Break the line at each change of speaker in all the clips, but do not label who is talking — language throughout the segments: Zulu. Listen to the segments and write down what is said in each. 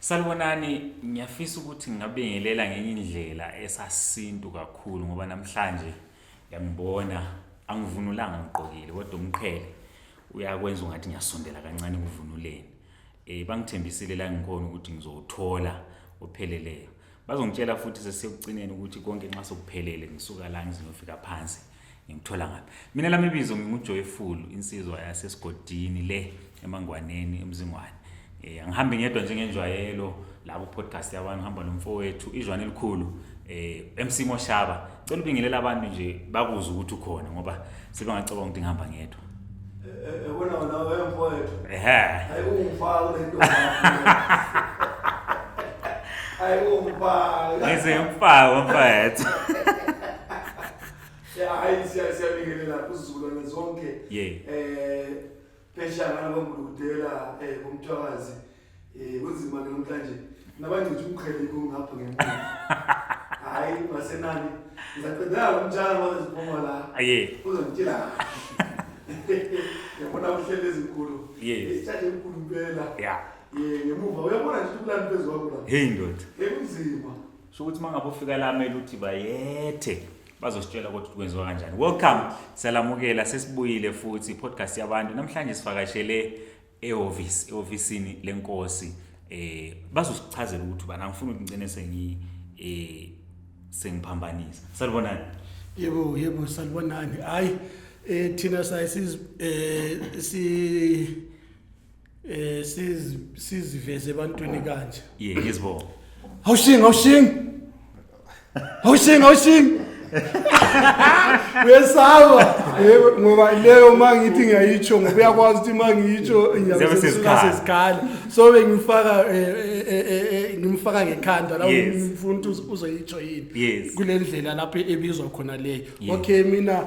Salibonani, ngiyafisa ukuthi ngingabingelela ngenye indlela esasintu kakhulu ngoba namhlanje ngiyangibona angivunulanga ngigqokile kodwa umqhele uyakwenza ungathi ngiyasondela kancane ekuvunuleni. Eh bangithembisile la ngikhona ukuthi ngizowuthola opheleleyo. bazongitshela futhi sesiyokugcineni ukuthi konke nxa sokuphelele ngisuka la ngiziyofika phansi ngimthola ngaphi mina lami ibizo ngingujoyful insizwa yasesigodini le emangwaneni emzingwane um eh, angihambi ngedwa njengenjwayelo la ku-podcast yabantu ngihamba nomfowethu izwane elikhulu um eh, emsimo shaba cela ubingelele abantu nje bakuze ukuthi ukhona ngoba sebengacabanga ukuthi ngihamba ngedwa wena
wena wemfowethu ehe hayi ungifaka kule nto hayi ungifaka ngise ngifaka
mfowethu
hayi siyabingelela kuzizukulwane zonke eh phesha ngalo kwangulukudela eh kumthwakazi eh kunzima ke namhlanje nabangcitha umqhele kungapha ngemali hayi basenani ngizaqedela umtshana waze siphuma la aye uzongitshela yabona uhlele ezinkulu isithathe enkulu impela ya ye ngemuva uyabona nje ukulana phezu kwakho la hey ndoda ekunzima so ukuthi mangabe
ufika la mele uthi bayethe bazositshela ukuthi kwenziwa kanjani welcome siyalamukela sesibuyile futhi podcast yabantu namhlanje sivakashele ehhovisi ehhovisini lenkosi eh bazosichazela ukuthi bana ngifuna ukugcine sengi eh sengiphambanisa salibonani yebo yebo
salibonani hayi eh thina sayi siz eh si eh sizi- siziveze ebantwini kanje ye ngizibona
awushingi awushingi
awushingi awushingi uyesaba Yebo, ngoba leyo ma ngithi ngiyayitsho ngoba uyakwazi ukuthi ma ngiyitsho Ziyabe sezikhali. ngiyabesezikhali so bengimfaka eh, eh, eh, eh, eh, ngimfaka ngekhanda la Yes. ngifuna ukuthi uz- uzoyitsho yini Yes. kule ndlela lapho ebizwa khona leyo Yes. okay mina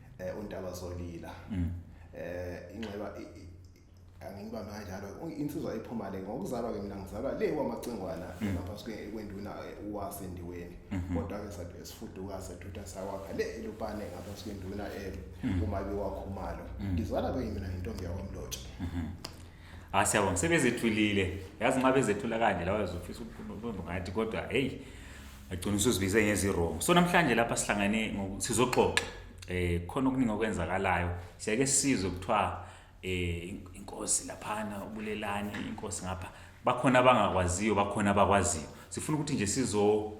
eh untaba solila mm. eh inxeba angingibambe kanjalo insizwa iphuma le ngokuzalwa ke mina ngizalwa le kwamacingwana mm. lapha sike kwenduna eh, uwasendiweni mm-hmm. kodwa ke sathi esifuduka sethutha sakwakha le elupane ngapha sike nduna eh, mm. uma bewakhumalo mm. ngizalwa ke mina intombi yakwamlotshe mm-hmm.
Ah siyabonga sebezethulile. Yazi nxa bezethula kanje lawa uzofisa ukubumba ngathi kodwa hey agcina usuzibize ngezi wrong. So namhlanje lapha sihlangene sizoxoxa eh khona okuningi okwenzakalayo. Siyake sizwe kuthiwa eh inkosi laphana ubulelani inkosi ngapha. Bakhona abangakwaziyo bakhona abakwaziyo. Sifuna ukuthi nje sizo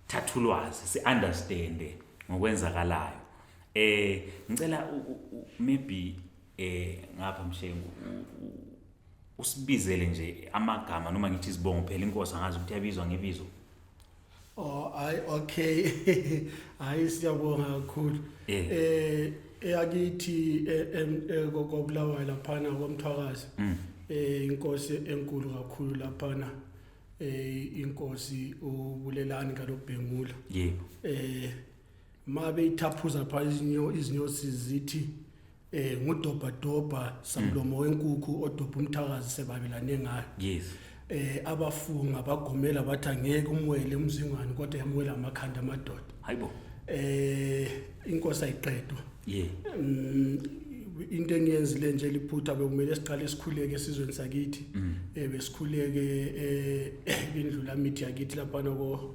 thathulwazi si understand ngokwenzakalayo. Eh ngicela maybe eh ngapha mshengu usibizele nje amagama noma ngithi izibongo phela inkosi angazi ukuthi yabizwa ngebizo oh ay
okay hayi siyabonga kakhulu eh, eh eyakithi eh, eh, kokobulawayo laphana komthwakazi mm. eh inkosi enkulu kakhulu laphana eh inkosi ubulelani kalobhengula yebo eh ma beyithaphuza phaa izinyosi zithi um ngudobhadobha samlomo mm. wenkukhu odobha umthakazi sebabelane ngayo yes eh
abafunga
bagomela bathi angeke umwele umzingwane kodwa yamwela amakhanda amadoda hayibo
eh
inkosi ayiqedwa yeah mm, into engiyenzile nje liphutha bekumele siqale isikhuleke esizweni sakithi mm. eh besikhuleke eh indlula mithi yakithi lapha noko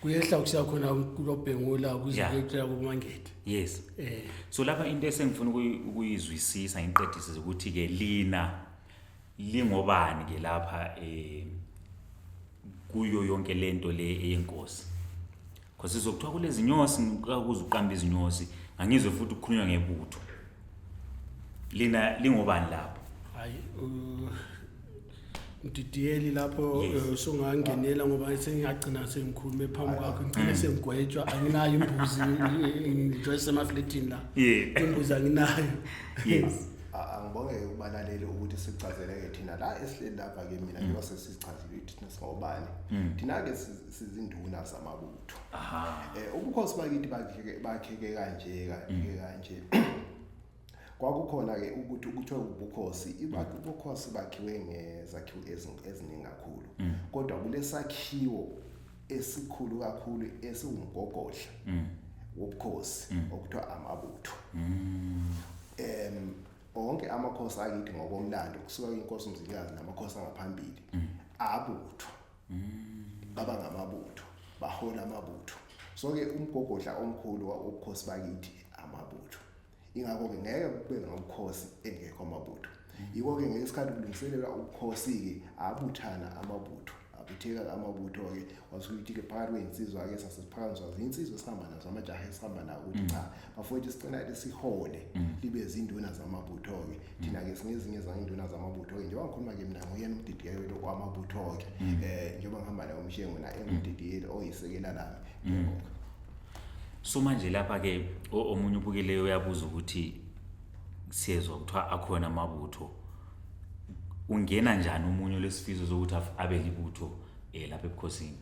kuyehla
kusiya khona kulobhengula kuzileqela kumangethe yes eh
so lapha into esengifuna ukuyizwisisa ngiqedise ukuthi ke lina lingobani ke lapha eh kuyo yonke lento le eyenkosi because sizokuthiwa kulezi nyosi ngikuza uqamba izinyosi ngangizwe futhi ukukhulunywa ngebutho lina lingobani lapho hayi
mdidiyeli lapho Yes. eh, usungangenela ngoba sengingagcina sengikhulume phambi kwakho ngigcine sengigwetshwa anginayo imbuzi ngijoye semafletini la Yeah. imbuzi anginayo Yes.
A- angibonge-ke
kubalaleli ukuthi sichazeleke thina la esihleli lapha ke mina njengoba sesichazile ukuthi thina singobani thina-ke si- sizinduna zamabutho Aha. um ubukhosi bakithi bakheke- bakheke kanje kanje kanje kwakukhona-ke ukuthi kuthiwe ubukhosi ibakhe ubukhosi bakhiwe ngezakhiwo eziningi kakhulu mm. kodwa kulesakhiwo esikhulu kakhulu esiwumgogodla mm. wobukhosi mm. okuthiwa amabutho em onke amakhosi akithi ngokomlando kusuka inkosi umzilikazi namakhosi angaphambili abutho baba ngamabutho bahola amabutho so ke umgogodla omkhulu wobukhosi bakithi amabutho ingakho-ke ngeke kube ngabukhosi engekho amabutho yiko-ke ngesikhathi kulungiselela ubukhosi-ke abuthana amabutho abutheka amabutho-ke wasukuthi-ke phakathi kwey'nsizwa-ke sasesiphakanyiswa zinsizwa esihamba nazo amajaha esihamba nawo ukuthi cha bafowethu sicela-ke sihole mm. libe zinduna zamabutho-ke thina-ke sinezinye zanginduna zamabutho-ke njengoba ngikhuluma-ke mina nguyena umdidiyeli wethu kwamabutho-ke um mm. eh, njengoba ngihamba naye umshengo naye mm. engumdidiyeli oyisekela lami mm.
so manje lapha-ke omunye ubukeleyo uyabuza ukuthi siyezwa kuthiwa akhona amabutho ungena njani umunye lesifiso sokuthi abe libutho um eh, lapha ebukhosini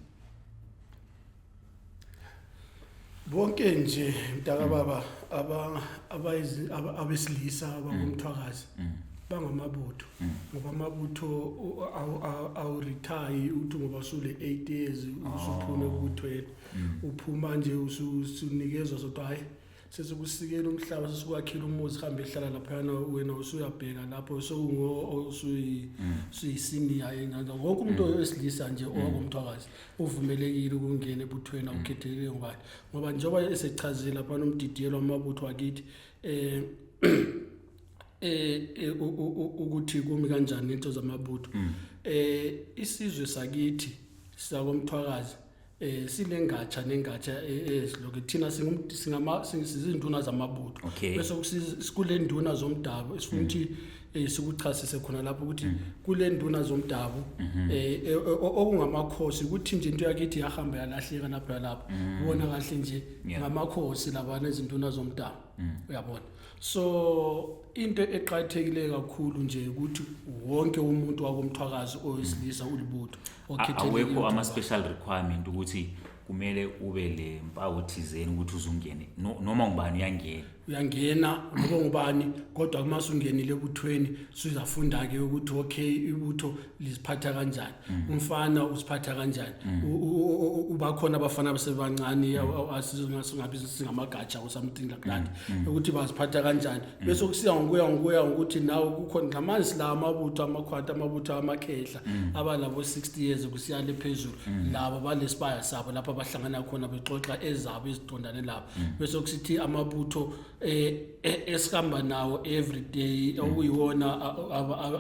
bonke nje mntaka baba aba abayizi- aba- abesilisa abangumthwakazi Mm. bangamabutho Mm. ngoba amabutho u- awu- awu- awurithayi uthi ngoba usule 8 years usuphume Oh. ebuthweni Mm. uphuma nje usu- usunikezwa sodwa hhayi sesikusikela umhlaba sesikwakhela umuzi hambe ehlala laphayana wena usuyabheka lapho sewusuyisiniya mm. enganga wonke umuntu mm. owesilisa nje mm. owangumthwakazi uvumelekile ukungena ebuthweni awukhethelekile ngubani ngoba njengoba esechazile laphana umdidiyelo wamabutho wakithi um eh, eh, ukuthi kumi kanjani into zamabutho um isizwe sakithi sakomthwakazi eh sinengatsha nengatsha eziloke eh, eh, thina singama sizinduna zamabutho bese kule nduna zomdabu esifuna ukuthi mm. eh, sikuchasise khona lapho ukuthi mm. kule nduna zomdabu mm-hmm. eh okungamakhosi ukuthi nje into yakithi yahamba yalahleka lapho lapho mm. ubona kahle nje ngamakhosi labana izinduna zomdabu uyabona so into eqhathekile kakhulu nje ukuthi wonke umuntu wakomthwakazi oyisilisa ulibutho awekho
ama-special requirement ukuthi kumele ube le mpawu thizeni ukuthi uzungene noma ngubani uyangena uyangena
noma ngubani kodwa uma sungenile ebuthweni suzafunda-ke ukuthi okay ibutho liziphatha kanjani mm. umfana uziphatha kanjani mm. ubakhona abafana abasebancane mm. singabi singamagatsha or something like that ukuthi baziphatha kanjani bese kusiya ngokuya ngokuya ngokuthi nawe kukhona ngamanje sila amabutho amakhwata amabutho amakhehla mm. abanabo 60 years kusiyale phezulu mm. labo balesibaya sabo lapha bahlangana khona bexoxa ezabo izidondane lapha mm. bese kusithi amabutho eh, eh, esihamba nawo every day okuyiwona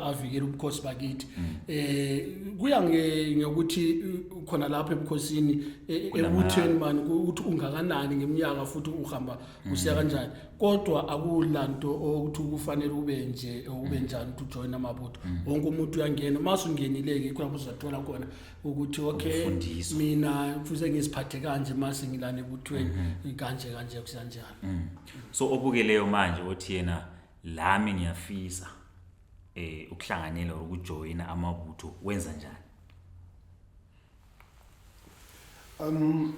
avikela ubukhosi bakithi eh kuya ngokuthi khona lapha ebukhosini e, ebutheni mani ukuthi ungakanani ngeminyaka futhi uhamba usiya mm. kanjani kodwa akulanto ukuthi kufanele ube nje ube mm. njani ukuthi ujoin amabutho mm. wonke umuntu uyangena uma sungenileke ikho lapho uzathola khona ukuthi okay mina kufuze ngiziphathe kanje uma sengilana ebuthweni mm-hmm. kanje kanje kusanjani so
obukeleyo manje othi yena lami ngiyafisa eh ukuhlanganyela ukujoyina amabutho wenza njani
Um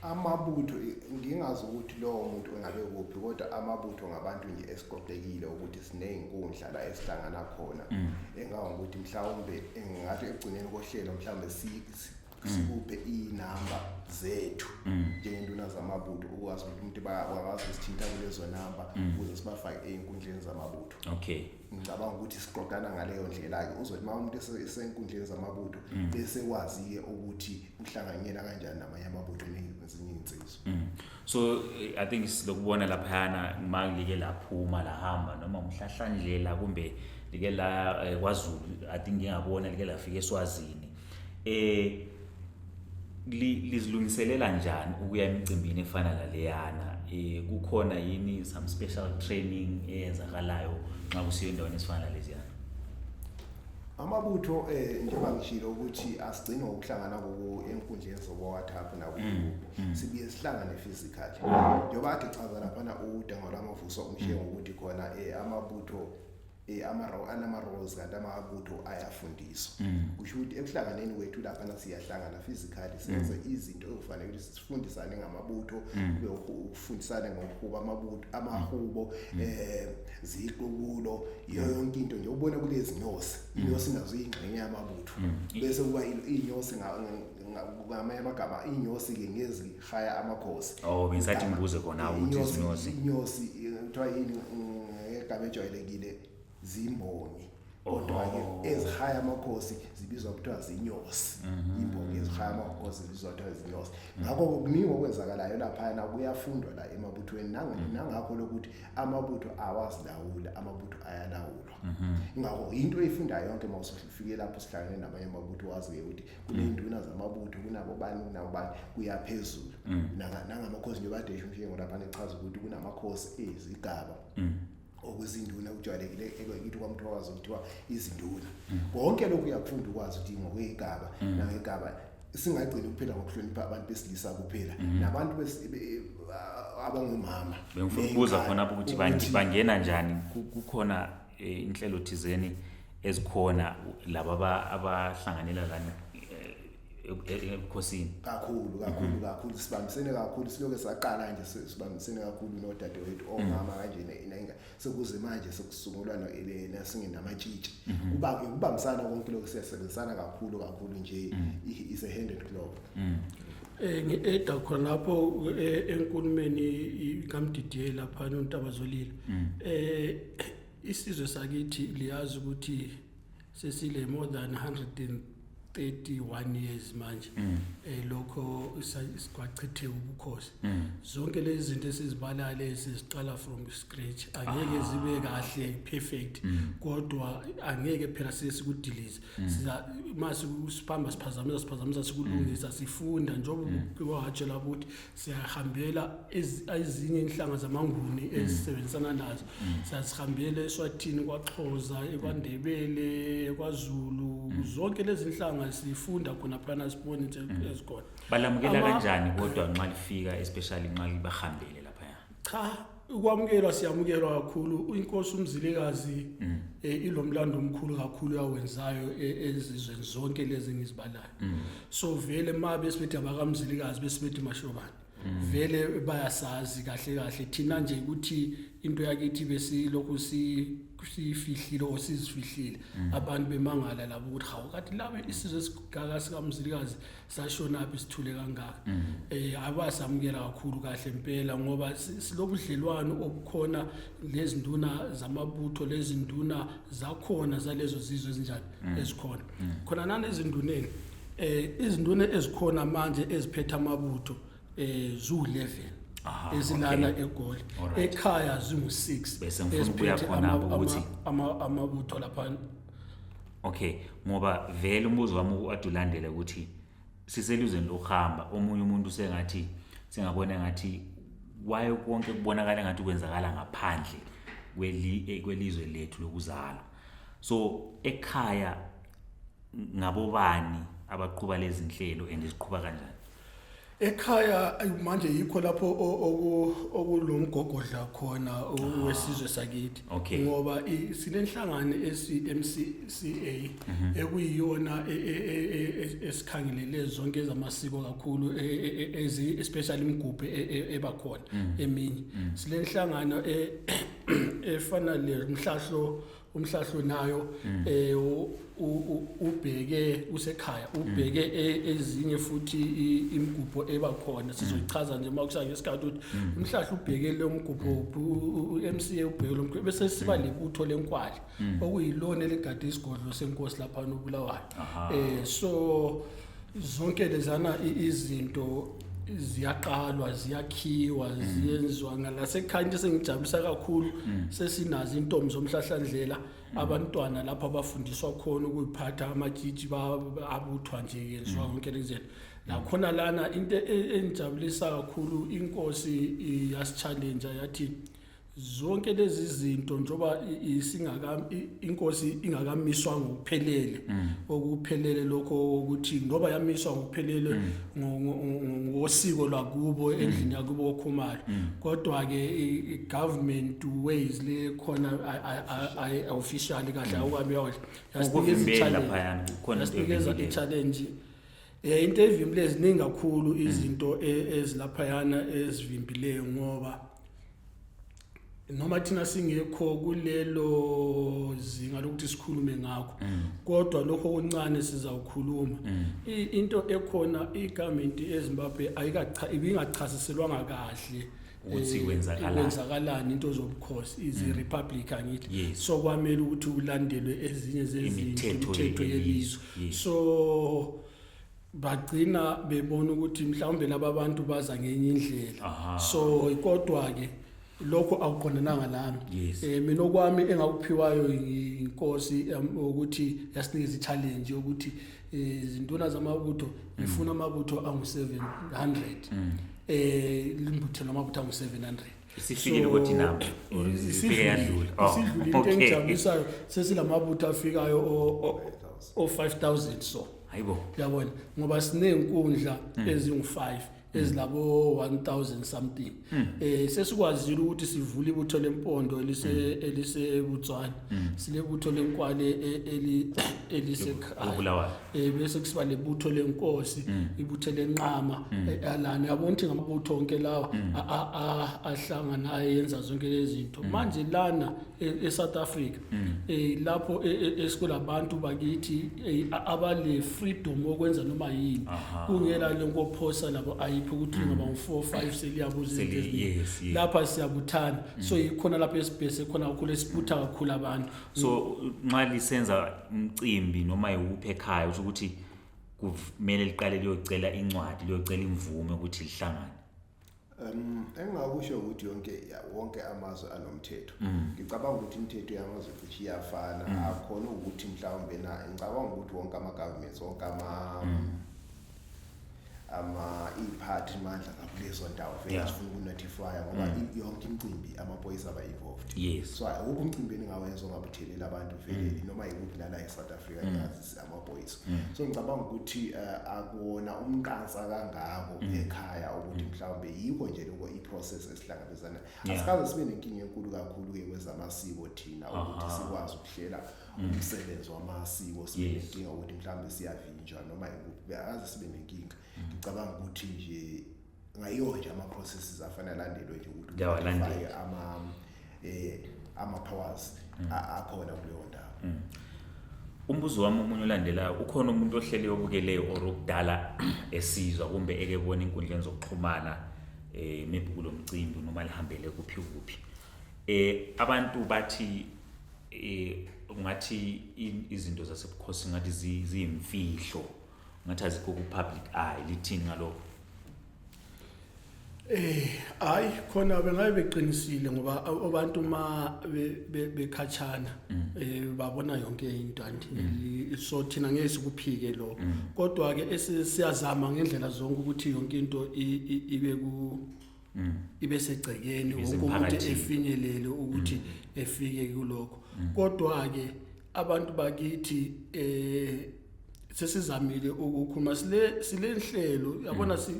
amabutho ngingazi ukuthi lowo muntu engabe kuphi kodwa amabutho ngabantu nje esiqoqekile ukuthi sinezinkundla la esihlangana khona mm. engawa ukuthi mhlawumbe engathi ekugcineni kohlelo mhlawumbe mm. sikuphe inamba zethu mm. njengentuna zamabutho ukwazi ukuthi umuntu bakwazi usithinta kulezo namba ukuze sibafake ezinkundleni zamabutho okay ngicabanga
ukuthi
siqondana ngaleyo ndlela-ke uzothi uma umuntu esenkundleni zamabutho mm. bese kwazi-ke ukuthi uhlanganyela kanjani namanye amabutho nezinye iy'nsizwa mm. so
i think silokubona laphayana uma like laphuma lahamba noma umhlahlandlela kumbe like la eh, kwazulu i think ngingabona like lafika eswazini eh lizilungiselela njani ukuya emicimbini efana naleyana eh kukhona yini some special training eyenzakalayo nxa kusiyo endaweni esifana naleziyana amabutho
eh njengoba ngishilo ukuthi asigcini ngokuhlangana kuku enkundleni zobo WhatsApp na ku mm, mm. sibuye sihlangane physically njengoba athi chaza lapha na udangolama vuso umshengo ukuthi khona eh amabutho Eh, anama-roles kanti amabutho ayafundiswa mm. kusho ukuthi ekuhlanganeni kwethu laphana siyahlangana physically mm. senze izinto ekufanele ukuthi sifundisane ngamabutho mm. kube ukufundisane ngokuhuba amabutho amahubo um eh, ziqubulo yonke into nje ubona kulezi nyosi inyosi nazo iyingxenye yamabutho bese kuba iyinyosi ngamanye amagama iyinyosi-ke ngezi faya amakhosi oh bengisathi
ngibuze khona ukuthi izinyosi inyosi
kuthiwa yini ngegama ejwayelekile zimboni odwa-ke oh, oh. ezihaya amakhosi zibizwa kuthiwa zinyosi mhm. imbongi ezihaya amakhosi zibizwa kuthiwa zinyosi ngakho kuningi okwenzakalayo laphayana kuyafundwa la emabuthweni mhm. nangakho lokuthi amabutho awazilawuli amabutho ayalawulwa mhm. ngakho yinto oyifundayo yonke uma usufike lapho sihlangene namanye amabutho wazi-ke ukuthi kuney'nduna zamabutho kunabobani kunabobani kuyaphezulu mm. nangamakhosi nje badesha umshengo lapha nechaza ukuthi kunamakhosi ezigaba mm. okuzinduna kujwayelekile ekithi kwamthokazi kuthiwa izinduna mm. konke lokhu uyakufunda ukwazi ukuthi ngokweyigaba nangegaba singagcini kuphela ngokuhlonipha abantu besilisa kuphela mhm. nabantu abangomama bengifuna ukubuza khona
ukuthi bangena njani kukhona eh, inhlelo thizeni ezikhona laba abahlanganela lana ebukhosini kakhulu kakhulu mhm. kakhulu
sibambisene kakhulu siloke saqala nje sibambisene kakhulu nodadewethu omama mhm. kanjena inenga sekuze manje sekusungulwa noelena singenamatshitsha mhm. kuba kubambisana konke lokho siyasebenzisana kakhulu kakhulu nje is a hand and glove eh
ngieda khona lapho eh, enkulumeni kamdidiye lapha nontaba zolile eh Isizwe sakithi liyazi ukuthi sesile more than 131 years manje mm. eh lokho isikwachithe ubukhosi mm. zonke lezi zinto esizibala lezi siqala from scratch angeke ah. zibe kahle perfect mm. kodwa angeke phela sesikudilize siza mase siphamba siphazamisa siphazamisa sikulungisa sifunda njengoba kuwatshela ukuthi siyahambela ezinye inhlanga zamanguni mm. ezisebenzisana nazo mm. siyazihambela eswathini kwaxhoza mm. ekwandebele kwazulu zonke lezi nhlanga sifunda khona phana sibone into ezikhona balamukela kanjani
kodwa nxa lifika especially nxa libahambele cha
ukwamukelwa siyamukelwa kakhulu uyinkosi umzilikazi mm. eh, ilomlando omkhulu kakhulu yawenzayo eh, ezizweni zonke lezi ngizibalayo mm. so vele ma besibethi abakamzilikazi besibethi mashobane mm. vele bayasazi kahle kahle thina nje ukuthi into yakithi besilokhu si siyifihlile or sizifihlile abantu bemangala labo ukuthi hawu kati laba isizwe esigaka sikamzilikazi sashonaphi sithule kangaka um akwasamukela kakhulu kahle impela ngoba silobudlelwano obukhona lezinduna zamabutho lezinduna zakhona zalezo zizwe ezinjani mm. ezikhona mm. khona nanezinduneni um izinduna ezikhona manje eziphethe amabutho um ziwu-level ezilana egoli ekhaya zingu-six eziphethe
amabutho
laphana okay
ngoba vele umbuzo wami wade ulandele ukuthi siseluzweni lokuhamba omunye umuntu sengathi singabona ngathi waye konke kubonakala ngathi kwenzakala ngaphandle eh, kwelizwe lethu lokuzalwa so ekhaya ngabobani abaqhuba lezi nhlelo and ziqhuba kanjani Ekhaya
manje yikho lapho okulomgogodla khona ah, wesizwe sakithi ngoba sinenhlangano esiMCCA mhm. ekuyiyona e, e, e, esikhangelele zonke ezamasiko kakhulu ezi especially imigubhe ebakhona mhm. eminye mhm. silenhlangano efana le mhlahlo umhlahlo nayo mm. eh ubheke usekhaya ubheke mm. e, ezinye futhi imigubho eba khona sizochaza nje makusake isikhathi ukuthi mm. umhlahla ubheke lo mgubho uMCA ubheke lo mgubho bese siba lebutho lenkwali okuyilona eligade isigodlo senkosi lapha nobulawayo eh so zonke lezana izinto ziyaqalwa ziyakhiwa mm. ziyenziwa ngalasekhaya into esengijabulisa kakhulu mm. sesinazo intombi zomhlahlandlela mm. abantwana lapho abafundiswa khona ukuyiphatha amajiji abuthwa nje yenziwa yonke lezento nakhona lana into e, engijabulisa kakhulu inkosi yasichallenja yathi zonke lezi zinto njoba isingaka inkosi ingakamiswa ngokuphelele mm. okuphelele lokho ukuthi ngoba yamiswa ngokuphelele mm. ngosiko lwakubo mm. endlini yakubo kokhumalo kodwa ke government ways le khona officially kahle awukabi yona yasinikeza i challenge khona i challenge Eh into evimbile ziningi kakhulu izinto e- ezilaphayana ezivimbileyo ngoba noma thina singekho kulelo zinga lokuthi sikhulume ngakho kodwa lokho okuncane sizawukhuluma I- into ekhona igovernment eZimbabwe ayikacha ibingachasiselwanga kahle ukuthi eh, kwenzakalani
kwenzakalani
into zobukhosi is mm. republic angithi yes. so kwamele ukuthi ulandelwe ezinye zezimithetho yelizwe yes. so bagcina bebona ukuthi mhlawumbe laba bantu baza ngenye indlela so kodwa ke lokho akuqondananga nami yes. eh mina okwami engakuphiwayo inkosi ukuthi yasinikeza i-challenge yokuthi eh, izinduna zamabutho ngifuna amabutho angu-700 mm. eh limbuthe noma ukuthi awu 700 isifikile ukuthi
nabo isifike yadlula oh, isidlula into
engijabulisayo sesilamabutho afikayo o 5000 so hayibo uyabona
ngoba
sinezinkundla hmm. ezingu5 hmm. ezilabo 1000 something hmm. eh sesikwazile ukuthi sivule ibutho lempondo elise elisebutswana silebutho lenkwale e, eli elisekhaya
eh bese kusiba
lebutho lenkosi mm. ibutho lenqama mm. eh, alana yabona ukuthi ngamabutho onke lawa mm. ahlangana ayenza zonke lezi zinto manje lana e, eSouth Africa eh lapho e, e, esikulabantu bakithi eh, abale freedom okwenza noma yini kungela lenkophosa labo ayiphi ukuthi ngaba u4 5 seliyabuza izinto lapha siyabuthana so yikhona lapho esibhese khona ukhule sibutha kakhulu abantu so nxa
lisenza umcimbi noma yiwuphi ekhaya usho ukuthi kumele liqale liyocela incwadi liyocela imvume ukuthi lihlangane Um
engakusho ukuthi yonke ya- wonke amazwe anomthetho. Ngicabanga ukuthi imithetho yamazwe cishe iyafana. Akhona ukuthi mhlawumbe na ngicabanga ukuthi wonke ama governments wonke ama ama iphathi mandla ngakulezo ndawo vele yeah. sifuna ukunotifya ngoba mm. yonke imicimbi amaphoyisa aba involved yes. so akukho umcimbi engingawenza ongabuthelela abantu vele mm. noma yikuphi lana eSouth Africa mm. ngazi amaphoyisa mm. so ngicabanga ukuthi uh, akuwona umqansa kangako mm. ekhaya ukuthi mm. mhlawumbe yikho nje lokho iprocess esihlangabezana yeah. asikaze sibe nenkinga enkulu kakhulu ke kwezamasiko thina ukuthi sikwazi ukuhlela mm. umsebenzi wamasiko sibe nenkinga ukuthi mhlawumbe siyavinjwa noma yikuphi aze sibe nenkinga mm. ngicabanga ukuthi nje ngayiyo nje ama-processes afana alandelwe nje ukuthi ufake ama um ama-powers mm. akhona kuleyo ndawo mm. umbuzo
wami omunye olandelayo ukhona umuntu ohlele obukeleyo or okudala esizwa kumbe ekebona inkundleni zokuxhumana um maybe kulo mcimbi noma lihambele kuphi kuphi Eh abantu bathi eh ngathi izinto zasebukhosini ngathi ziyimfihlo ngathi azikho ku public eye lithini ngalokho.
Eh hayi khona bengabe beqinisile ngoba abantu uma bekhatshana mm. eh babona yonke into anti mm. so thina ngeke sikuphike lo mm. kodwa ke esiyazama ngendlela zonke ukuthi yonke into ibe ku mm. ibe segcekeni wonke umuntu efinyelele ukuthi mm. efike kulokho mm. kodwa ke abantu bakithi eh sesizamile ukukhuluma sile silenhlelo yabona si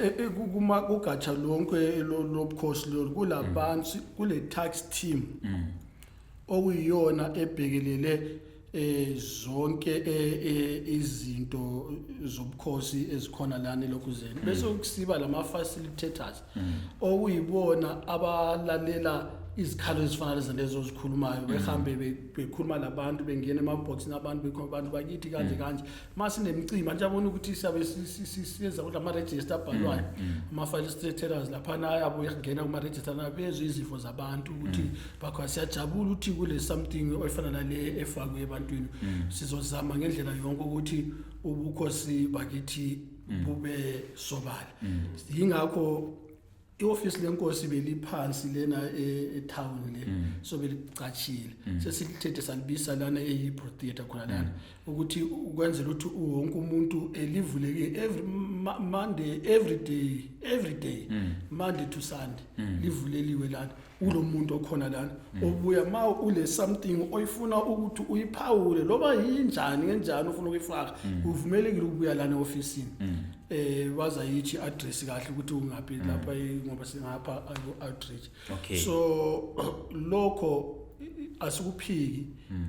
e, e, kuma kugatsha lonke lobukhosi lo kulabantu kule tax team okuyiyona ebhekelele eh zonke eh, eh, izinto zobukhosi ezikhona lana elokuzeni mm. bese ukusiba lama facilitators mm. okuyibona abalalela izikhalo ezifana lezi lezo ozikhulumayo mm. behambe bekhuluma labantu bengena emaboxini abantu bekhona abantu bakithi kanje kanje uma sinemicimbi abantu abona ukuthi siyabe siyenza ukuthi amarejista abhalwayo mm, mm. ama-file staterers laphana ayabuye kungena kumarejista bezwe izifo zabantu ukuthi mm. bakho siyajabula ukuthi kule something oyifana nale efakwe ebantwini sizozama ngendlela yonke ukuthi ubukhosi bakithi bube sobala yingakho iofisi lenkosi beliphansi lena e, etown le mm. so belicatshile mm. sesithethe salibisa lana eyibro theatre khona lana mm. ukuthi ukwenzela ukuthi wonke umuntu elivuleke every monday every day every day monday to sunday livuleliwe lana kulo muntu okhona lana mm. ubuya ma une something oyifuna ukuthi uyiphawule loba yinjani ngenjani ufuna ukuyifaka mm. uvumelekile ukubuya lana ofisini mm. eh waza yithi address kahle ukuthi ungaphi lapha ngoba singapha outreach so lokho asikuphiki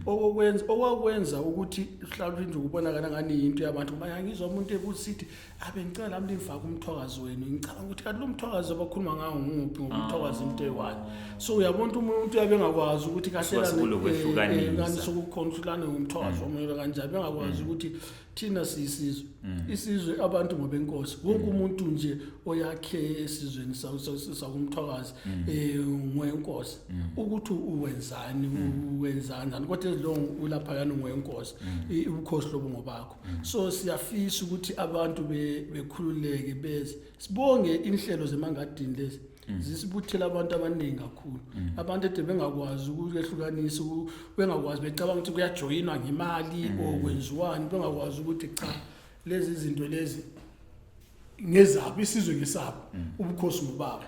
okokwenza okwakwenza ukuthi mhlawumbe nje ukubonakala ngani into yabantu manje ngizwa umuntu ebuthi abe ngicela nami nifake umthokazi wenu ngicabanga ukuthi kanti lo mthokazi abakhuluma ngawo nguphi ngoba umthokazi into eyi-one so uyabona umuntu uyabe engakwazi ukuthi Kusuka sekulo kwehlukanisa. kahlelani sokukhona ukuthi lana ngumthokazi womele kanjani bengakwazi ukuthi thina siyisizwe isizwe abantu ngobenkosi wonke umuntu nje oyakhe esizweni sa- sa- sa- sakumthokazi um ngoyenkosi ukuthi uwenzani uwenzanjani kodwa ezilongo ulaphayana ngoyenkosi i- ubukhosi lobu ngobakho Mm. so siyafisa ukuthi abantu bekhululeke beze sibonge inhlelo zemangadini lezi mm. zisibuthele abantu abaningi kakhulu mm. abantu ede bengakwazi ukulehlukanisa bengakwazi becabanga ukuthi kuyajoyinwa ngemali or kwenziwani bengakwazi ukuthi cha lezi zinto lezi ngezabo isizwe ngesabo ubukhosi ngobaba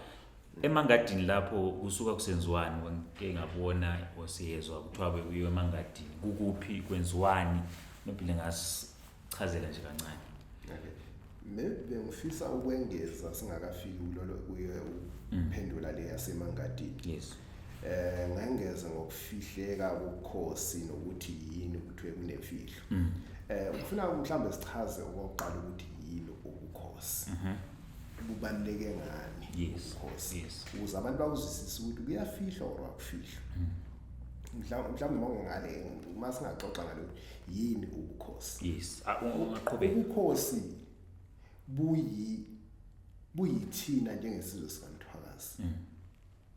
emangadini
lapho kusuka kusenziwani ngike ngabona osiyezwa kuthiwa bekuyiwe emangadini kukuphi kwenziwani nobile ngasichazela nje kancane
maybe bengifisa ukwengeza singakafiki kulolo kuye uphendula mm. le yasemangadini yes eh
ngengeze
ngokufihleka kokhosi nokuthi yini ukuthi kunemfihlo mm. eh ufuna mhlawumbe sichaze okokuqala ukuthi yini ubukhosi mhm. kubaluleke ngani yes course yes
ukuze abantu
bakuzisise ukuthi kuyafihlwa or akufihlwa hmm. mhlawumbe mhlawumbe mangongale uma singaxoxa ngalo yini ubukhosi yes ungaqhubeka
ubukhosi
buyi buyithina njengesizwe sikamthwakazi hmm.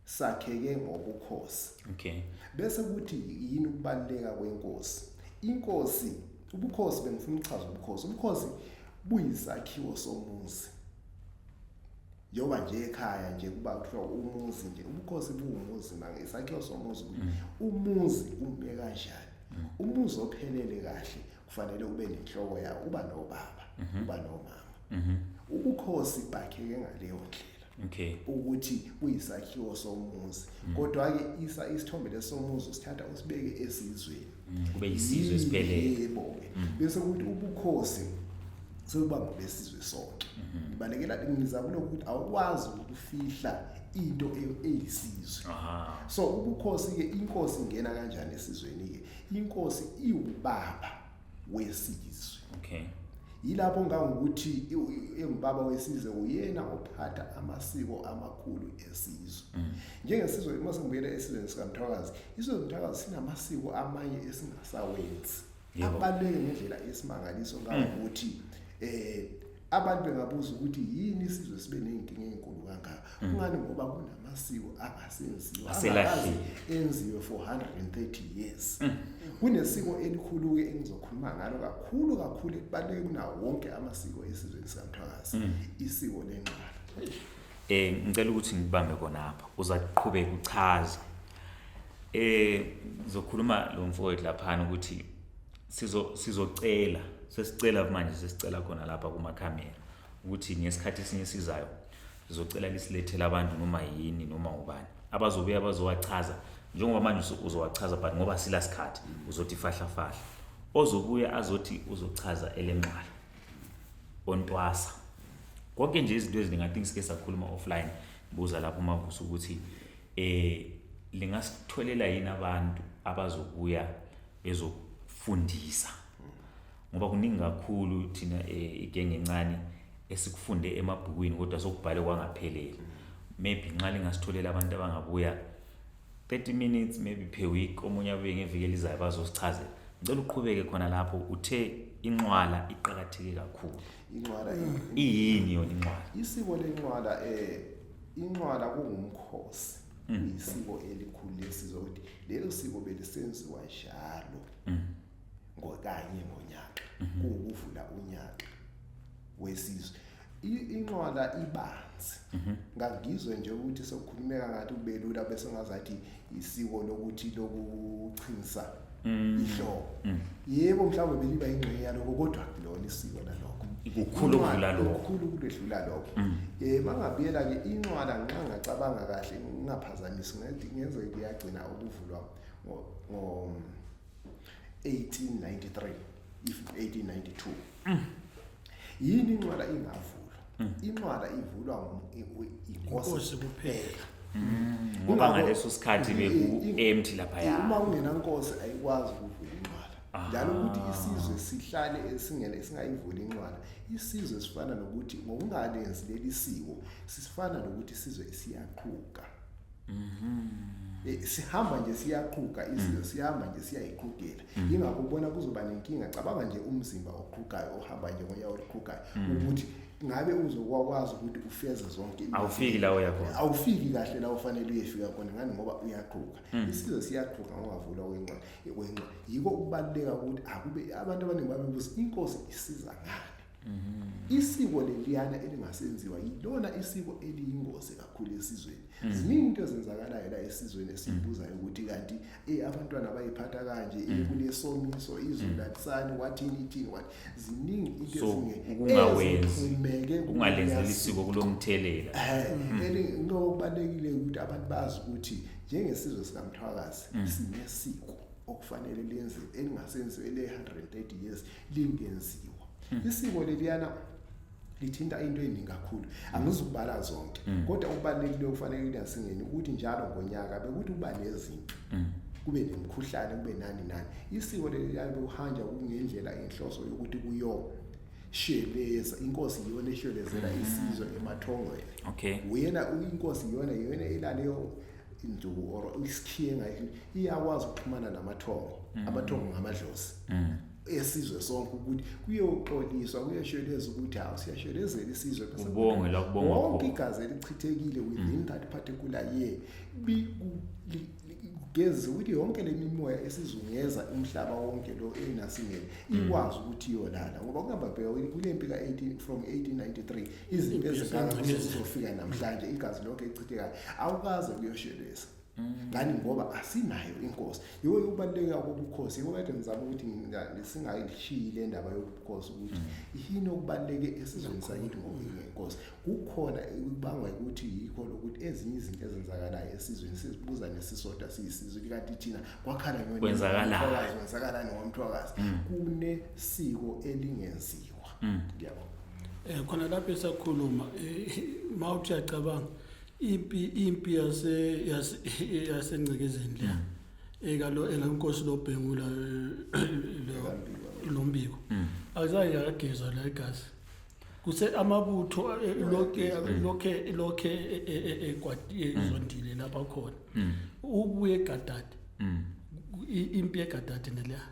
sakheke ngobukhosi okay bese kuthi yini ukubaluleka kwenkosi inkosi ubukhosi bengifuna ukuchaza ubukhosi ubukhosi buyisakhiwo somuzi njengoba nje ekhaya nje kuba kuthiwa umuzi nje ubukhosi buwumuzi manje isakhiwo somuzi ukuthi mm. umuzi ume kanjani mm. umuzi ophelele kahle kufanele ube nenhloko yawo uba nobaba mm-hmm. uba nomama mm-hmm. ubukhosi bakheke ngaleyo ndlela okay ukuthi kuyisakhiwo somuzi mm. kodwa ke isa isithombe lesomuzi sithatha usibeke esizweni mm. kube yisizwe
siphelele yebo mm. bese kuthi
ubukhosi sokuba ngobesizwe sonke mm-hmm. ibalekela ngizama lokho ukuthi awukwazi ukufihla into e-, eyisizwe so ubukhosi ke inkosi ingena kanjani esizweni ke inkosi iwubaba wesizwe okay yilapho ngangokuthi engubaba wesizwe uyena ophatha amasiko amakhulu esizwe mm. njengesizwe uma singibuyela esizweni sikamthwakazi isizwe somthwakazi sinamasiko amanye esingasawenzi abaluleke ngendlela esimangaliso ngangokuthi um abantu bengabuza ukuthi yini isizwe sibe nezinkinga ezinkulu kangaka mm. kungani ngoba kunamasiko angasenziwa aselahle enziwe for 130 years mm. kunesiko elikhulu ke engizokhuluma ngalo kakhulu kakhulu ekubaleke kunawo wonke amasiko esizweni sikamthwakazi mm. isiko lenqala eh ngicela ukuthi
ngibambe kona apha uza kuqhubeka uchaze eh ngizokhuluma lo mfowethu lapha ukuthi sizo sizocela sesicela manje sesicela khona lapha kuma camera ukuthi ngesikhathi esinye sizayo sizocela lisilethele abantu noma yini noma ubani abazobuya bazowachaza njengoba manje uzowachaza but ngoba sila sikhathi uzothi fahla fahla ozobuya azothi uzochaza elenqala ontwasa konke nje izinto eziningi i think sike sakhuluma offline buza lapho mavusa ukuthi eh lingasitholela yini abantu abazobuya ezokufundisa ngoba kuningi kakhulu thina eh, igenge encane esikufunde emabhukwini kodwa sokubhale kwangapheleli maybe nxa lingasitholela abantu abangabuya 30 minutes maybe per week omunye abuye ngeviki elizayo bazosichazela ngicela uqhubeke khona lapho uthe inqwala iqakatheke kakhulu inqwala
iyini yona
inqwala isiko lenqwala
eh inqwala kungumkhosi mm. isiko elikhulu lesizwe ukuthi lelo siko belisenziwa njalo mm. ngokanye ngonyaka mm-hmm. kuwukuvula unyaka wesizwe inqwala ibanzi mm-hmm. ngangizwe nje ukuthi sokukhulumeka ngathi ubelula bese ngazathi isiko lokuthi lokuchinsa mm. ihlobo mm. yebo mhlawumbe beliba ingxenye yaloko kodwa kulona isiko naloko kukhulu ukudlula
lokho kukhulu ukudlula lokho
mm. eh mangabiyela ke incwala nxa ngacabanga kahle ngingaphazamisi ngathi ngenze kuyagcina ukuvulwa ngo 1893 if 1892 yini inqwala ingavulwa mm. inqwala ivulwa inkosi kuphela mm. ngoba
ngaleso sikhathi beku-empty laphaya uma kungenankosi
ayikwazi ukuvula inqwala ah. njalo ukuthi isizwe sihlale esingele singayivuli inqwala isizwe sifana nokuthi ngokungalenzi leli siko sifana nokuthi isizwe siyaqhuka Mhm. Eh, sihamba nje siyaqhuga izinto mm. sihamba nje siyayiqhugela mm. ingakho ubona kuzoba nenkinga cabanga nje umzimba oqhugayo ohamba nje ngoyawo oqhugayo mm. ukuthi ngabe uzokwazi ukuthi ufeze zonke awufiki la uya
khona awufiki kahle la
ufanele uyefika khona ngani ngoba uyaqhuga isizwe siyaqhuga ngokuvula wencane wencane yiko ukubaluleka ukuthi akube abantu abaningi babebuza inkosi isiza ngani Mm-hmm. Isiko leliyana elingasenziwa yilona isiko eliyingozi kakhulu esizweni. Mm. Ziningi into ezenzakalayo la esizweni esibuzayo ukuthi kanti eh abantwana bayiphatha kanje eh mm. kunesomiso izulu mm. lakusani wathini ithini wathi ziningi into ezingeke kungawenzi
kungalenzeli isiko kulomthelela. Eh elinokubalekile
ukuthi abantu bazi ukuthi njengesizwe sikaMthwakazi sinesiko okufanele lenziwe elingasenziwe le 130 years lingenziwa hmm. isiko leliyana lithinta into eningi kakhulu angizukubala zonke hmm. kodwa okubalulekile okufanele kulasingeni ukuthi njalo ngonyaka bekuthi uba nezinto hmm. kube nemkhuhlane kube nani nani isiko leliyana bekuhanja kungendlela inhloso yokuthi kuyo sheleza inkosi iyona eshelezela isizwe emathongweni okay uyena uyinkosi iyona iyona elaleyo induku or isikhiye ngayo iyakwazi ukuxhumana namathongo mm. amathongo ngamadlozi mm. esizwe sonke ukuthi kuyoxoliswa kuyasheleza ukuthi hawu siyashelezela isizwe bese ubonge la kubonga wonke
igazi
elichithekile within mm. that particular year kugeza ukuthi yonke lemimoya esizungeza umhlaba wonke lo enasingene ikwazi ukuthi yolala ngoba kuhamba bheka kulempi ka 18 from 1893 izinto ezingangcwele zizofika namhlanje igazi lonke ichithekayo awukaze kuyoshelisa ngani ngoba asinayo inkosi yiwo yokubaluleka kobukhosi yiwo kade ngizama ukuthi singayishiyi le ndaba yobukhosi ukuthi yini okubaluleke esizweni sakithi ngokuyilenkosi kukhona kubangwa ukuthi yikho lokuthi ezinye izinto ezenzakalayo esizweni sizibuza nesisodwa siyisizwe kanti thina kwakhala kwenzakalayo kwenzakalani ngomthwakazi mm. kunesiko elingenziwa mm. ngiyabo eh khona lapho
esakhuluma eh, mawuthi uyacabanga impi impi yase yasengcekezeni la mm. ekalo elankosi lobhengula eh, lombiko mm. akuzaye yakageza la igazi kuse amabutho eh, lokhe lokhe lokhe ekwati ezondile lapha khona ubuye egadade impi egadade neleya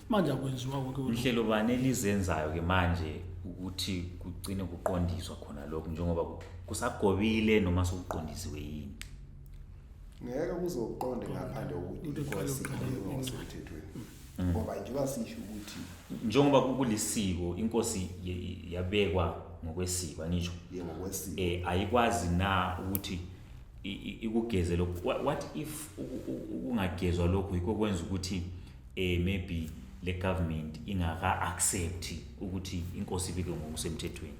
manje akwenziwa konke inhlelo bani elizenzayo
ke manje ukuthi kugcine kuqondiswa khona lokho njengoba kusagobile noma sokuqondisiwe yini
ngeke kuzoqonde ngaphandle kokuthi inkosi ngokusemthethweni mm. ngoba njengoba sisho ukuthi njengoba
kulisiko inkosi yabekwa ngokwesiko angisho ngokwesiko eh
ayikwazi na
ukuthi ikugeze lokho what if ukungagezwa lokho yikho kwenza ukuthi eh maybe le government ingaka accept ukuthi inkosi ibike ngokusemthethweni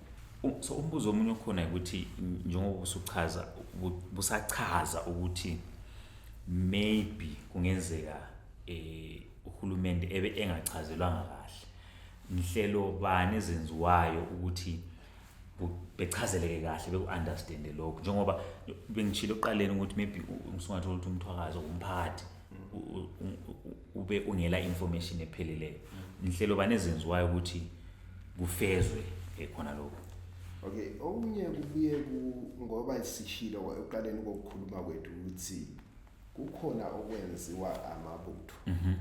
U- so umbuzo omunye okhona ukuthi n- njengoba usuchaza bu- busachaza ukuthi maybe kungenzeka eh uhulumende ebe engachazelwanga kahle inhlelo bani ezenziwayo ukuthi bechazeleke kahle beku-understande lokhu njengoba bengishilo ekuqaleni ukuthi maybe ngisungathola ukuthi umthwakazo umphakathi ube ungela information epheleleyo inhlelo banezenziwayo ukuthi kufezwe eh, khona lokhu okay
okunye kubuye ngoba sishilo ekuqaleni kokukhuluma kwethu ukuthi kukhona okwenziwa amabutho mhm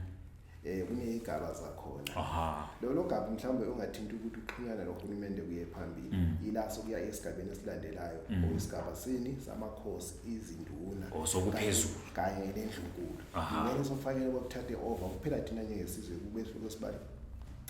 eh kunezigaba zakhona aha lolo gaba mhlawumbe ungathinta ukuthi uxhumana nohulumende kuye phambili mm. ila sokuya esigabeni esilandelayo mm. oyisigaba sini samakhosi izinduna osokuphezulu oh,
kanye
nendlunkulu ngeke sofanele bokuthathe over kuphela thina njengesizwe kubehluko sibali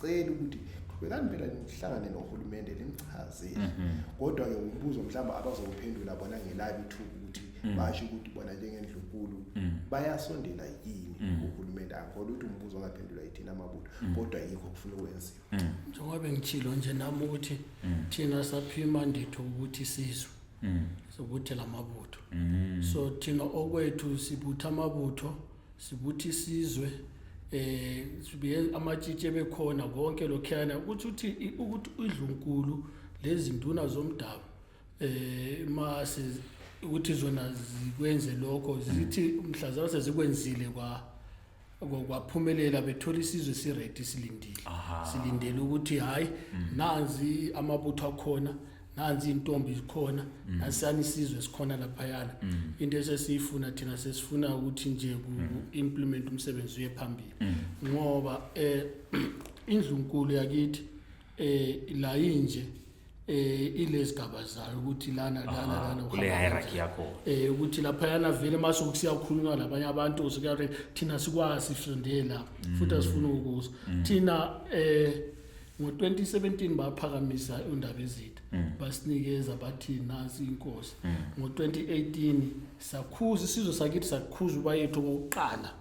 cela ukuthi qhubekani phela nihlangane nohulumende nimchazele mhm. kodwa ke umbuzo mhlawumbe abazowuphendula bona ngelabi ithuba ukuthi mm. basho ukuthi bona njengendlunkulu mm. bayasondela yini mm. uhulumeni angikholwa ukuthi umbuzo ongaphendulwa yithina amabutho mm. kodwa yikho kufuna ukwenziwa mm. njengoba bengitshilo
nje nami ukuthi mm. thina saphima nditho ukuthi sizwe mm. sokuthela amabutho mm. so thina okwethu sibutha amabutho sibuthi sizwe eh sibiye amatshitshe bekhona konke lokhana ukuthi ukuthi ukuthi idlunkulu lezinduna zomdabu eh uma si- ukuthi zona zikwenze lokho zithi mhlazana sezikwenzile kwa kwa- kwaphumelela bethola isizwe siready silindile Aha. silindele ukuthi hayi nanzi amabutho akhona nanzi intombi zikhona nasani isizwe sikhona laphayana into esesiyifuna thina sesifuna ukuthi nje ku implement umsebenzi uye phambili ngoba eh indlunkulu yakithi eh la inje eh ilezigaba zayo ukuthi lana lana Aha, lana kule uhamba hierarchy yakho
eh ukuthi lapha yana
vele mase kusiyakhulunywa labanye abantu usikare thina sikwazi sifundele la futhi asifuna ukuza thina eh ngo-2017 baphakamisa undaba ezitha basinikeza bathi nansi inkosi ngo-2018 sakhuza isizwe sakithi sakhuza ubayethu okokuqala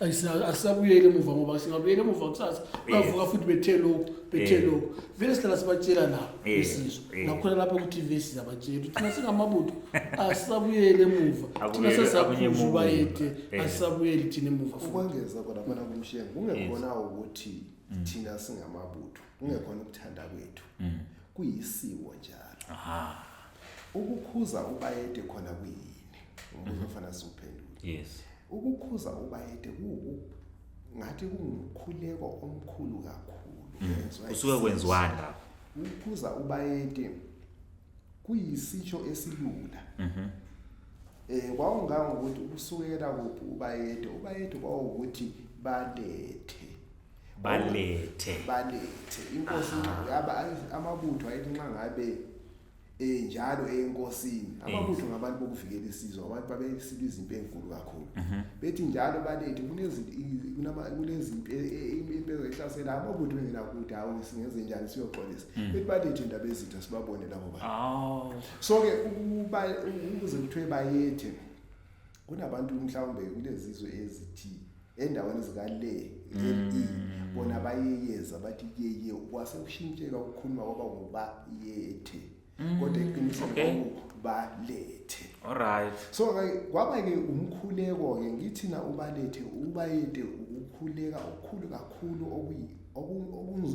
asisabuyeli emuva ngoba singabuyeli emuva kusasa bavuka futhi bethe lokhu bethe eh. lokhu vele sihlala sibatshela nabo eh. isizwe eh. nakhona lapha ku-tv siyabatshela ukuthi thina singamabutho asisabuyeli emuva thina sesaphuza ubayede asisabuyeli thina emuva ukwengeza khona khona
kumshengu kungekhona ukuthi mm. thina singamabutho kungekhona ukuthanda kwethu mm. kuyisiwo njalo aha ukukhuza ubayede khona kuyini umbuzo mm-hmm. ofana siwuphendula yes ukukhuza ubayede kuwu ngathi kungumkhuleko omkhulu kakhulu mm. usuke kwenziwani
lapho ukukhuza
ubayede kuyisitsho esilula mhm eh kwawungangokuthi ukusukela kuphi ubayede ubayede kwawukuthi balethe balethe balethe inkosi yaba amabutho ayithi nxa ngabe eh njalo enkosini amabutho ngabantu bokuvikela isizwe abantu babesika izimpi ezinkulu kakhulu mhm. bethi njalo balethe kunezi kunama kunezimpi e, e, impi ezihlasela amabutho engena kuthi hawo singenze njani siyoxolisa mm. bethi balethe indaba ezitha sibabone labo bantu so ke ukuba ukuze kuthiwe bayethe kunabantu mhlawumbe kulezizwe ezithi endaweni zikale mm. e, bona bayeyeza bathi yeye kwase kushintsheka ukukhuluma kwaba ngoba yethe mm. kodwa iqiniso okay. balethe alright
so kwaba
ke umkhuleko ke ngithina ubalethe ubayede ukukhuleka okukhulu kakhulu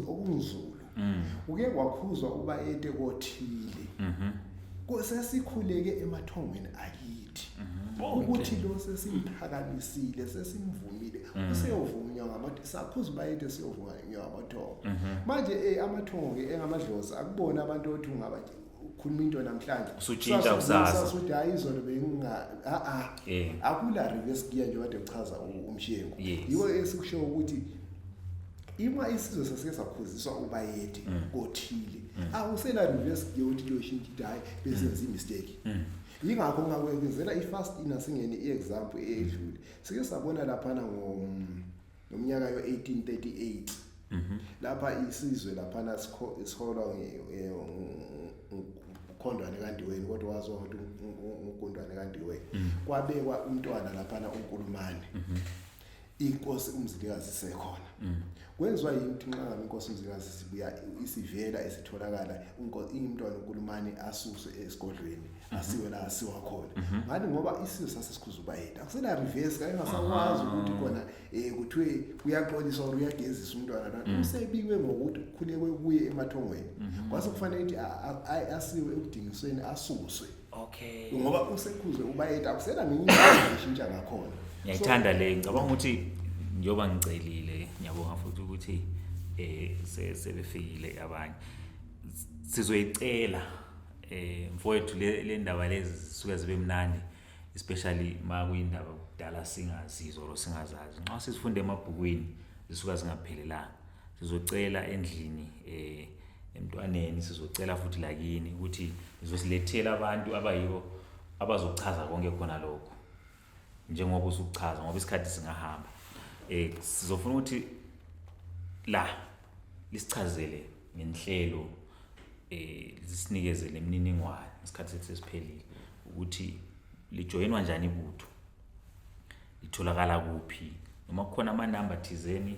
okunzulu mm. uke wakhuzwa uba ete kothile mhm. sesikhuleke emathongweni akithi mhm. ukuthi lo sesimphakamisile sesimvumile mhm. useyovunywa ngamathongo sakhuza uba ete siyovunywa ngamathongo manje eh, amathongo-ke engamadlozi akubona abantu othi ungaba ukhuluma into namhlanje usutshintsha kusasa
usudayi izolo
benginga a a akula rike esikiya nje kade kuchaza umshengu yiwo esikusho ukuthi ima isizwe sasike sakhuziswa ubayede mm. kothile mm. awusela reverse gear ukuthi kuyoshintsha idayi besenza mm. imistake yingakho ngakwekezela i-fast inasingene i-example eyedlule sike sabona laphana ngo ngomnyaka yo-1838 mhm. lapha isizwe laphana siholwa eh, ukhondwane kandiweni kodwa waziwa ukuthi ugundwane kandiweni mhm. kwabekwa umntwana laphana unkulumane mhm. inkosi umzilikazi isekhona kwenziwa yini ukuthi nxa ngabe inkosi umzilikazi sibuya isivela esitholakala ingimntwana unkulumane asuswe esigodlweni asiwe la asiwa khona ngani ngoba isizwe sasesikhuzuba yethu akusena reverse kanye ngasakwazi ukuthi khona eh kuthiwe kuyaxoliswa or uyagezisa umntwana kanti usebiwe ngokuthi kukhulekwe kuye emathongweni kwase kufanele ukuthi a- a- a- asiwe ekudingisweni asuswe okay ngoba
usekhuzwe
ubayethu akusena ngenye indlela eshintsha ngakhona ngiyayithanda le
ngicabanga ukuthi njengoba ngicelile ngiyabonga futhi ukuthi eh se- sebefikile abanye S- sizoyicela eh mfowethu le le ndaba lezi zisuke zibe mnandi especially uma kuyindaba kudala singazizwa or singazazi nxa sizifunde emabhukwini zisuka zingaphelelanga sizocela endlini eh emntwaneni sizocela futhi lakini ukuthi ngizosilethela abantu abayibo abazochaza konke khona lokho njengoba usukuchaza ngoba isikhathi singahamba eh sizofuna ukuthi la lisichazele ngenhlelo eh lisinikeze lemininingwane isikhathi sethu sesiphelile ukuthi lijoyinwa njani ibutho litholakala kuphi noma kukhona amanamba thizeni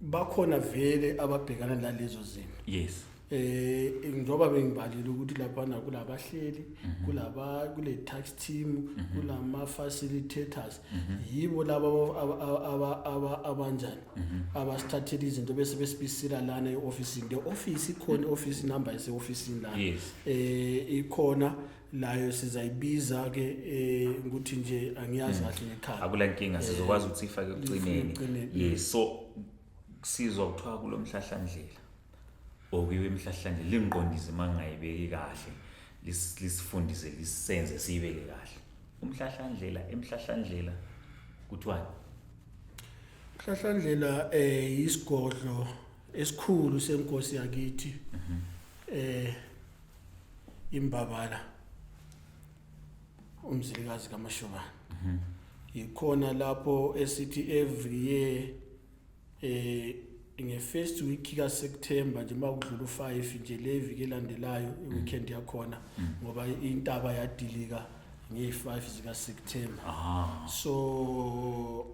bakhona vele ababhekana nalezo zimo yes eh
njengoba
bengibalile ukuthi lapha na kulabahleli mhm. kulaba kule tax team mhm. kulama facilitators mhm. yibo laba aba aba abanjani abasithathela izinto bese besibisila lana eoffice the office ikhona office number ese office lana eh ikhona nayo sizayibiza ke eh ukuthi nje angiyazi mm. kahle ngekhaya akula nkinga eh, sizokwazi
ukuthi ifake ekucineni yes so sizwa kuthiwa kulomhlahlandlela okuyiwe imhlahlandlela lingiqondise uma ngingayibeki kahle lisifundise lisenze siyibeke kahle umhlahlandlela emhlahlandlela kuthiwani umhlahlandlela
eh isigodlo esikhulu senkosi yakithi mhm. eh imbabala umzilikazi kamashobana mhm. yikhona lapho esithi every year eh nge-first week kaSeptember nje makudlula u5 nje le viki elandelayo mhm. iweekend yakhona mhm. ngoba intaba yadilika nge-5 zikaSeptember ah. so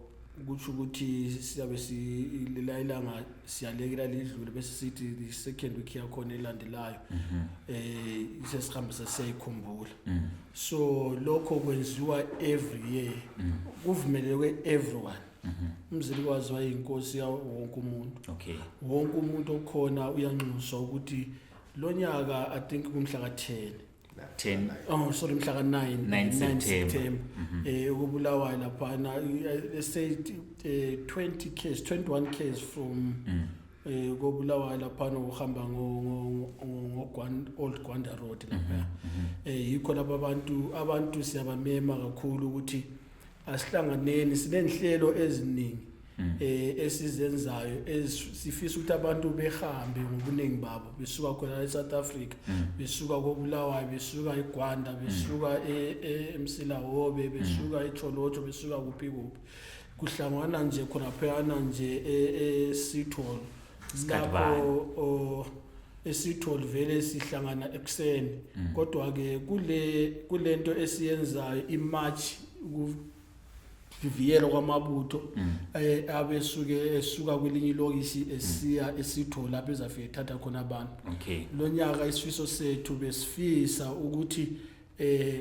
kusho ukuthi siyabe silila ilanga siyalekela lidlule bese sithi the second week yakhona elandelayo mhm. eh sesihambisa siyayikhumbula mhm. so lokho kwenziwa every year mhm. kuvumeleke everyone umzili kwazi wayinkosi yawo wonke umuntu okay wonke
umuntu
okhona uyanxuswa ukuthi lonyaka i think kumhla ka 10 10 oh sorry mhla ka 9 9 September mhm. eh ukubulawa lapha na eh, say 20 eh, case 21 case from mm. eh kobulawa lapha no uhamba ngo ngo old Gwanda road lapha mhm, mhm. eh yikho laba abantu abantu siyabamema kakhulu ukuthi Asihlanganeni sinenhlelo eziningi mm. eh esizenzayo esifisa ukuthi abantu behambe ngobuningi babo besuka khona eSouth Africa mm. besuka koBulawayo besuka eGwanda mm. besuka e-, e-, eMsilahobe besuka eCholotho besuka kuphi kuphi kuhlangana nje khona phela nje e-, eSitholo Isikhathi bani? Lapho o, esithole vele sihlangana ekuseni Mm. kodwa ke kule kulento esiyenzayo imarch ukuvivikelwa kwamabutho Mm. eh, abesuke esuka kwelinye ilokisi esiya esitho lapho ezafike thatha khona abantu okay lonyaka isifiso sethu besifisa ukuthi eh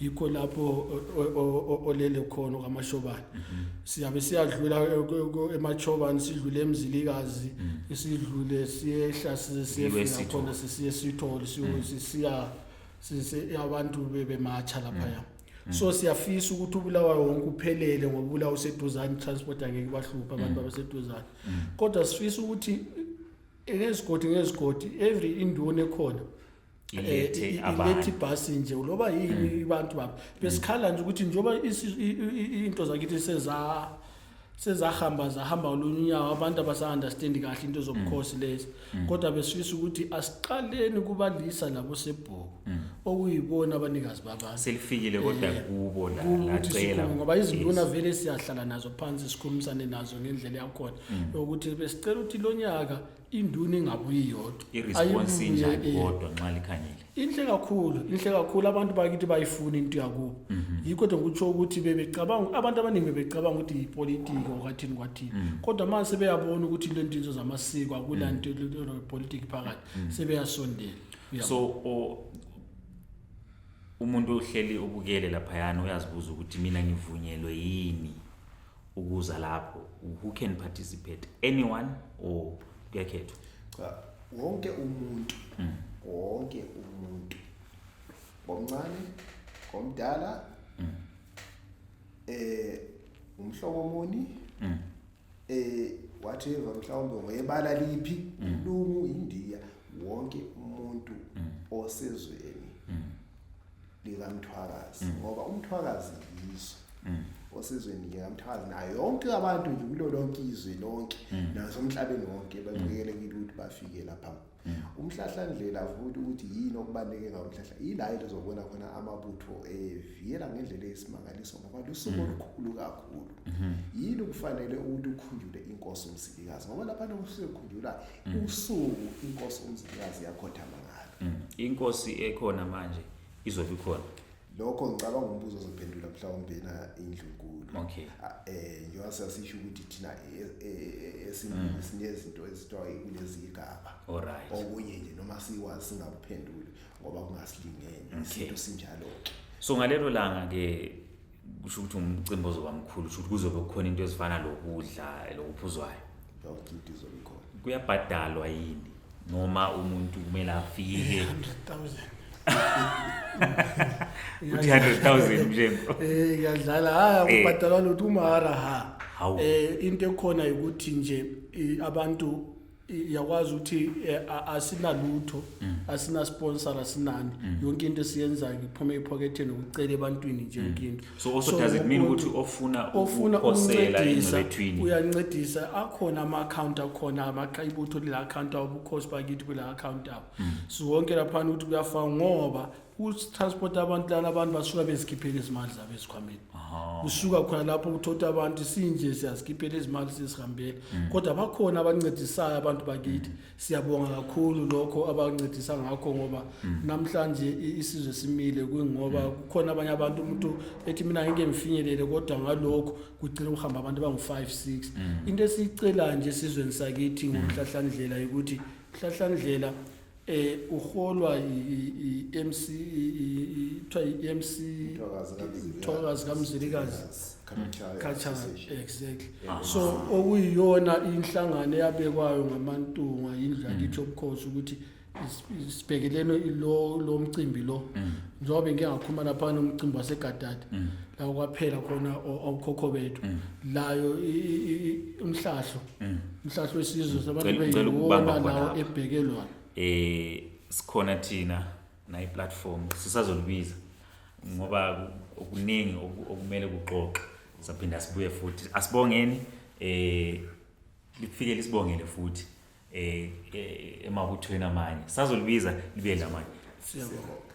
yikho lapho olele khona kwaMashobane mhm. siyabe siyadlula eMachobane sidlule eMzilikazi mhm. sidlule siyehla siyefika khona sisiye sithole mhm. siya sise abantu bebemacha lapha ya so siyafisa ukuthi ubulawa wonke uphelele ngoba ubulawa useduzane transport angeke bahlupha abantu abaseduzane kodwa sifisa ukuthi ngezigodi ngezigodi every induna ekhona ilethe eh, abantu ilethe ibhasi nje uloba yini hmm. abantu baba besikhala nje ukuthi njengoba into zakithi seza sezahamba zahamba olunye unyawo abantu abasa-understandi kahle into zobukhosi mm. lezi mm. kodwa besifisa ukuthi asiqaleni kubalisa labo sebhuku mm. okuyibona abanikazi babantu selifikile kodwa eh,
kubo lacela ngoba izinduna
vele siyahlala nazo phansi sikhulumisane nazo ngendlela yakhona ukuthi besicela ukuthi lo nyaka induna ingabuye iyodwa iresponse injani
kodwa nxa likhanyile inhle kakhulu
inhle kakhulu abantu bakithi bayifuna into yakubo mhm. yikho nje ngikutsho ukuthi bebecabanga abantu abaningi bebecabanga ukuthi yipolitiki okwathini kwathini mhm. kodwa manje sebeyabona ukuthi into entinzo zamasiko akula mhm. nto politiki phakathi sebeyasondela so
umuntu ohleli ubukele laphayana uyazibuza ukuthi mina ngivunyelwe yini ukuza lapho who can participate anyone or kuyakhethwa cha wonke
umuntu mm. wonke umuntu ngomncane ngomdala mm. eh umhlobo muni mm. eh whatever mhlawumbe ngoyebala liphi mm. lungu indiya wonke umuntu mm. osezweni likamthwakazi mm. ngoba umthwakazi yiso mm. osizweni likamthwakazi nayo yonke abantu nje kulo lonke izwe lonke mm. nasomhlabeni wonke baqikelekile ukuthi bafike lapha umhlahlandlela futhi ukuthi yini okubaluleke ngawo umhlahla yila yile zobona khona amabutho eviyela ngendlela eyisimangaliso ngoba lusuku olukhulu kakhulu mm-hmm. yini kufanele ukuthi ukhunjule inkosi umsilikazi ngoba lapha nokusuke khunjula usuku inkosi umsilikazi yakhothama ngalo Mm. Inkosi ekhona
manje izobe ikhona. Lokho ngicabanga
umbuzo ozophendula mhlawumbe na indlunkulu. Okay.
Eh njengoba
sasisho ukuthi thina e, e, e, esimini mm. sinezinto ezithiwa kulezi igaba. Alright. Okunye
nje noma
siwazi singakuphenduli ngoba kungasilingene isinto sinjalo ke. So ngalelo langa
ke kusho ukuthi umcimbi ozoba mkhulu kusho ukuthi kuzobe kukhona into ezifana lokudla lokuphuzwayo
kuyabhadalwa yini
noma umuntu kumele afike 300,000 mjengo eh ngiyadlala haya
eh. kubhadalwa lutho umara ha eh into ekhona ukuthi nje abantu yakwazi ukuthi eh, a- asinalutho Mm. asinasponsor asinani yonke into esiyenzayo iphuma ephoketheni ukucela ebantwini nje yonke into Mm. so also does it mean umuntu- ukuthi
ofuna ofuna ukuphosela ukuncedisa engcebethwini uyancedisa
akhona ama-akhawunti akhona amaqa- ibutho lila akhawunti abo ubukhosi bakithi kula akhawunti abo siwonke laphana ukuthi kuyafana ngoba Ku-transport abantu lana abantu basuka bezikhiphela izimali zabo ezikhwameni. Kusuka khona lapho uthotha abantu sinje siyazikhiphela izimali sizihambela. Kodwa bakhona abancedisayo abantu bakithi. Siyabonga kakhulu lokho abancedisa ngakho ngoba namhlanje i- isizwe simile kungoba kukhona abanye abantu umuntu ethi mina ngeke ngifinyelele kodwa ngalokho kugcina kuhamba abantu abangu-5 6 into esiyicelayo nje esizweni sakithi ngomhlahlandlela yokuthi mhlahlandlela eh uholwa i-MC kuthiwa i-MC Thokazi kaMzilikazi Khatshana exactly ah. so okuyiyona inhlangano eyabekwayo ngamantunga indla mm. kithi obukhosi ukuthi sibhekelene lo lo mcimbi lo mm. njengoba bengingakhuluma lapha nomcimbi wasegadadi mm. la kwaphela khona awukhokho bethu layo umhlahlo mm. mhlahlo wesizwe mm. sabantu beyiwona lawo ebhekelwayo eh
sikhona thina nayi platform sisazolibiza ngoba okuningi okumele kuxoxe saphinda sibuye futhi asibongeni eh lifike lisibongele futhi eh, eh emabuthweni amanye
sazolibiza
libe lamanye siyabonga